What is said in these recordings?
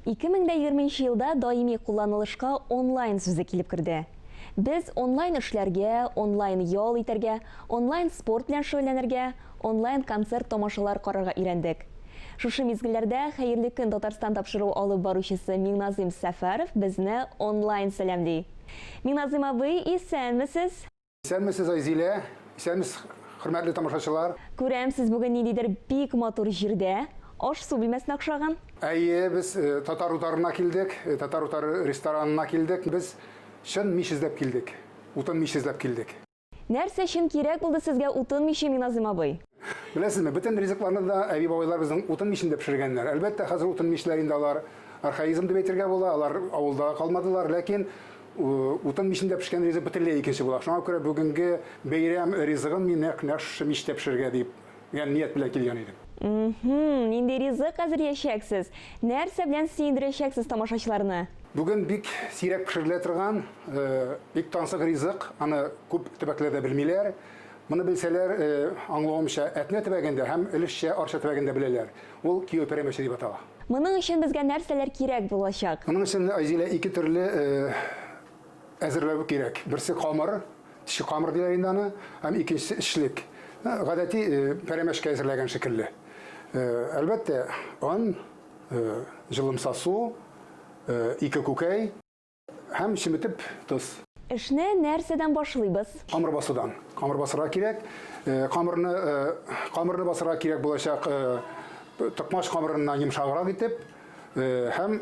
2020 нче елда даими кулланылышка онлайн сүзе килеп керде. Без онлайн эшләргә, онлайн ял итәргә, онлайн спорт белән шөгыльләнергә, онлайн концерт-тамашалар карарга өйрәндек. Шушы мизгелләрдә Хәерле көн, Татарстан тапшыруы алып баручысы Миңназыйм Сәфәров безне онлайн сәламли. Миңназыйм абый, исәнмесез! Исәнмесез, Айзилә! Исәнмесез, хөрмәтле тамашачылар! Күрәм, сез бүген ниндидер бик матур җирдә, аш-су бүлмәсенә охшаган. Әйе, без Татар утарына килдек, Татар утары ресторанына килдек. Без чын мич эзләп килдек, утын мич эзләп килдек. Нәрсә өчен кирәк булды сезгә утын миче, Миназыйм абый? Беләсезме, бөтен ризыкларны да әби-бабайлар безнең утын мичендә пешергәннәр. Әлбәттә, хәзер утын мичләр инде алар архаизм дип әйтергә була, алар авылда да калмадылар, ләкин утын мичендә пешкән ризык бөтенләй икенче була. Шуңа күрә бүгенге бәйрәм ризыгын мин нәкъ менә шушы мичтә пешерергә дип дигән ният белән килгән идем. Мһм, нинди ризык әзерләячәксез? Нәрсә белән сөендерәчәксез тамашачыларны? Бүген бик сирәк пешерелә торган, бик тансык ризык, аны күп төбәкләрдә белмиләр. Моны белсәләр, аңлавымча, Әтнә төбәгендә һәм өлешчә Арча төбәгендә беләләр. Ул Кияү пәрәмәче дип атала. Моның өчен безгә нәрсәләр кирәк булачак? Моның өчен, Айзилә, ике төрле әзерләү кирәк. Берсе камыр, теше камыр диләр инде аны, һәм икенчесе эчлек. Гадәти пәрәмәчкә әзерләгән шикелле. Әлбәттә, он, җылымса су, ике күкәй. Һәм чеметеп тыз. Эшне нәрсәдән башлыйбыз? Камыр басудан. Камыр басырга кирәк. Камырны камырны басырга кирәк булачак токмач камырыннан йомшаграк итеп һәм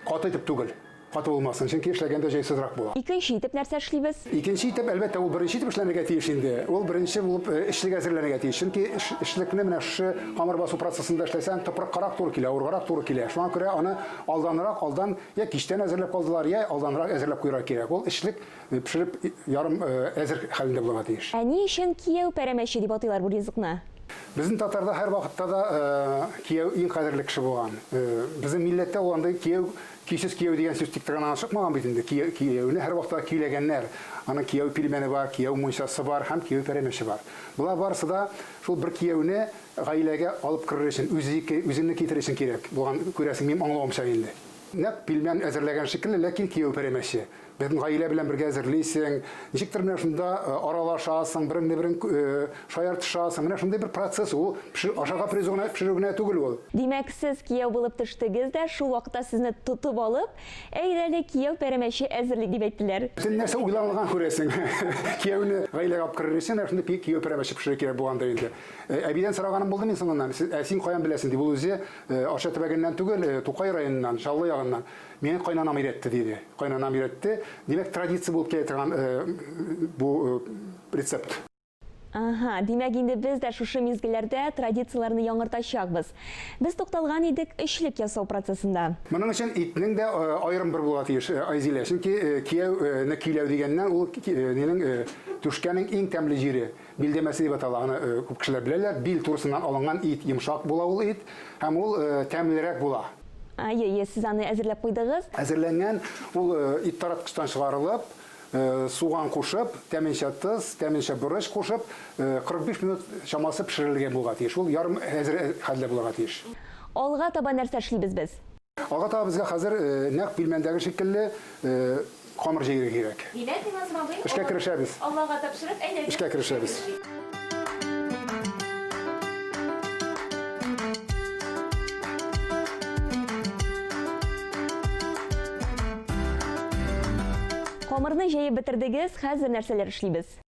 каты итеп түгел. Каты булмасын, чөнки эшләгәндә җайсызрак була. Икенче итеп нәрсә эшлибез? Икенче итеп, әлбәттә, ул беренче итеп эшләнергә тиеш инде. Ул беренче булып эчлек әзерләнергә тиеш. Чөнки эшлекне менә шушы камыр басу процессында эшләсәң, тупрыккарак туры килә, авыргарак туры килә. Шуңа күрә аны Алданрак, алдан, я кичтән әзерләп калдылар, я алданрак әзерләп куярга кирәк. Ул эчлек э, пешереп э, ярым э, әзер хәлендә булырга тиеш. Ә ни өчен кияү пәрәмәче дип атыйлар бу ризыкны? Безнең татарда һәр вакытта да э, кияү иң кадерле кеше булган. Э, безнең милләттә ул андый кияү, көйсез кияү дигән сүз тик торган гына чыкмаган бит инде. Кияү, кияүне һәр вакытта көйләгәннәр. Аның кияү пилмәне бар, кияү мунчасы бар һәм кияү пәрәмәче бар. Болар барысы да шул бер кияүне Гаиләгә алып керер өчен, үзеке, үземне китерер өчен кирәк булган, күрәсең, минем аңлавымча инде. Нәкъ пилмән әзерләгән шикелле, ләкин кияү пәрәмәче. Бөтен гаилә белән бергә әзерлисең, ничектер менә шунда аралашасың, береңне-берең шаяртышасың. Менә шундый бер процесс ул. Пешерү, ашарга призу гына, пешерү генә түгел ул. Димәк, сез кияү булып төштегез дә, шул вакытта сезне тотып алып, Әйдә әле, кияү пәрәмәче әзерли, дип әйттеләр. Бөтен нәрсә уйланылган, күрәсең. Кияүне гаиләгә алып керер өчен, менә шундый кияү пәрәмәче пешерергә кирәк булгандыр инде. Э, әбидән сораганым булды мин соңыннан, ә син каян беләсең, дип, ул үзе э, Арча төбәгеннән түгел, э, Тукай районыннан, Чаллы ягыннан. Миңа кайнанам өйрәтте, диде. Кайнанам өйрәтте. Димәк, традиция булып килә торган бу рецепт. Ага, димәк инде без дә шушы мизгелләрдә традицияләрне яңартачакбыз. Без тукталган идек өчлек ясау процессында. Моның өчен итнең дә э, аерым бер булуга тиеш, э, Айзилә. Чөнки э, кияүне көйләү дигәннән ул нинең түшкәнең иң тәмле җире. Билдә мәсе дип атала, аны күп кешеләр беләләр. Бил турысыннан алынган ит, йомшак була ул ит һәм ул тәмлерәк була. Әйе, әйе, сез аны әзерләп куйдыгыз. Әзерләнгән ул ит тараткычтан чыгарылып, суган кушып, тәменчә тоз, тәменчә борыч кушып, 45 минут чамасы пешерелергә булырга тиеш. Ул ярым әзер хәлдә булырга тиеш. Алга таба нәрсә эшлибез без? Ага тага безгә хәзер нәкъ пилмәндәге шикелле камыр җәйге кирәк. Димәк, Миназым абый, эшкә керешәбез. Аллага тапшырып, әйдәгез. Эшкә керешәбез. Камырны җәеп бетердегез, хәзер нәрсәләр эшлибез?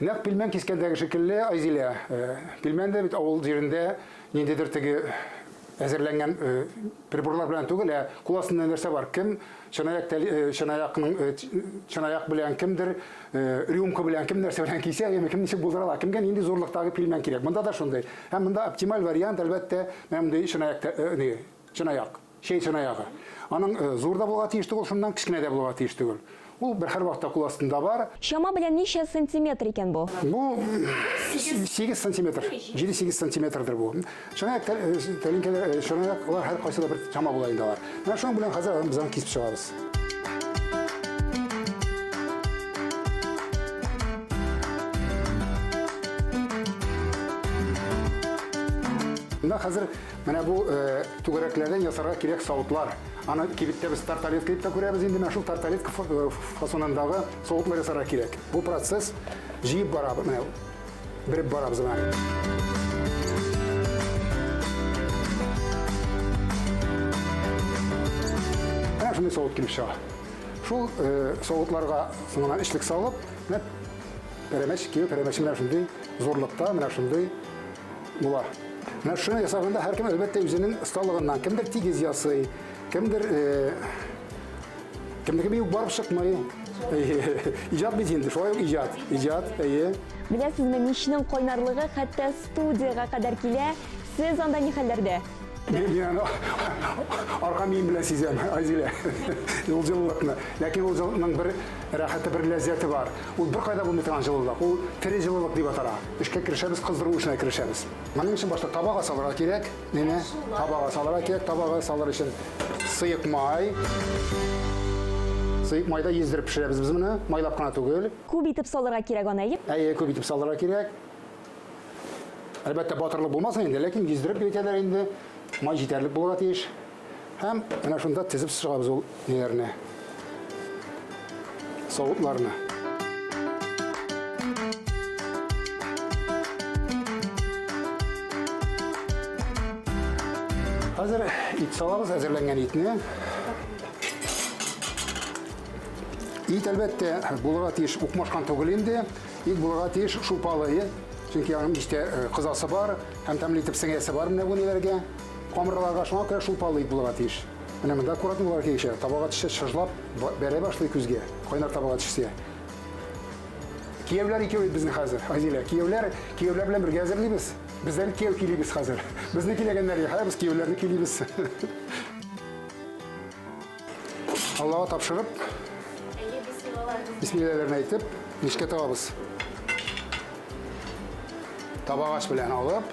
Нәкъ пилмән кискәндәге шикелле, Айзилә, пилмән дә бит авыл җирендә ниндидер теге әзерләнгән приборлар белән түгел, ә кул астында нәрсә бар? Кем чынаяк чынаякның чынаяк белән, кемдер рюмка белән, кем нәрсә белән кисә, яме кем ничек булдыра ала, кемгә нинди зурлыктагы пилмән кирәк. Монда да шундый. Һәм монда оптималь вариант, әлбәттә, менә мондый чынаякта, чынаяк. Чәй чынаягы. Аның зур да булырга тиеш түгел, шуннан кечкенә дә булырга тиеш түгел. Ул бер һәрвакытта кул астында бар. Чама белән ничә сантиметр икән бу? Бу сигез сантиметр, җиде-сигез сантиметрдыр бу. Чынаяк тәлинкәләр, чынаяклар һәркайсы да бер чама була инде алар. Менә шуның белән хәзер без аны кисеп чыгабыз. Монда хәзер Менә бу э, түгәрәкләрдән ясарга кирәк савытлар. Аны кибеттә без тарталет дип тә күрәбез инде, менә шул тарталет э, фасонындагы савытлар ясарга кирәк. Бу процесс җыеп бара, менә береп барабыз менә. Менә шундый савыт килеп чыга. Шул э, савытларга соңынан эчлек салып, менә пәрәмәч, киви пәрәмәче менә шундый зурлыкта, менә шундый була. Менә шуны ясаганда һәркем әлбәттә үзенең осталыгыннан, кемдер тигез ясый, кемдер кемнеке бию барып чыкмый. Иҗат бит инде, шулай ук иҗат, иҗат, әйе. Беләсезме, мичнең кайнарлыгы хәтта студиягә кадәр килә. Сез анда ни хәлләрдә? Мин аны арка мием белән сизәм, Айзилә. Ул җылылыкны. Ләкин ул җылылыкның бер рәхәте, бер ләззәте бар. Ул беркайда булмый торган җылылык. Ул тере җылылык дип атала. Эшкә керешәбез, кыздыру эшенә керешәбез. Моның өчен башта табага салырга кирәк. Менә табага салырга кирәк. Табага салыр өчен сыек май. Сыек майда ездереп пешерәбез без моны, майлап кына түгел. Күп итеп салырга кирәк аны, әйе? Әйе, күп итеп салырга кирәк. Әлбәттә, батырлык булмасын инде, ләкин ездереп кирәкәләр инде. Май җитәрлек булырга тиеш. Һәм менә шунда тезеп чыгабыз ул ниләрне. Савытларны. Хәзер ит салабыз әзерләнгән итне. Ит әлбәттә булырга тиеш укмашкан түгел инде. Ит булырга тиеш шулпалы. Чөнки аның истә кызасы бар һәм тәмле итеп сеңәсе бар менә бу ниләргә. Камыраларга шуңа күрә шулпалык булырга тиеш. Менә монда аккуратный булырга кирәк ише. Табага төшсә, чыжлап бәрә башлый күзгә. Кайнар табага төшсә. Кияүләр икәү бит безнең хәзер, Азилә. Кияүләр, кияүләр белән бергә әзерлибез. Без дә бит кияү көйлибез хәзер. Безне көйләгәннәр юк, ә без кияүләрне көйлибез. Аллага тапшырып, бисмилләләрен әйтеп, мичкә табабыз. Табагач белән алып,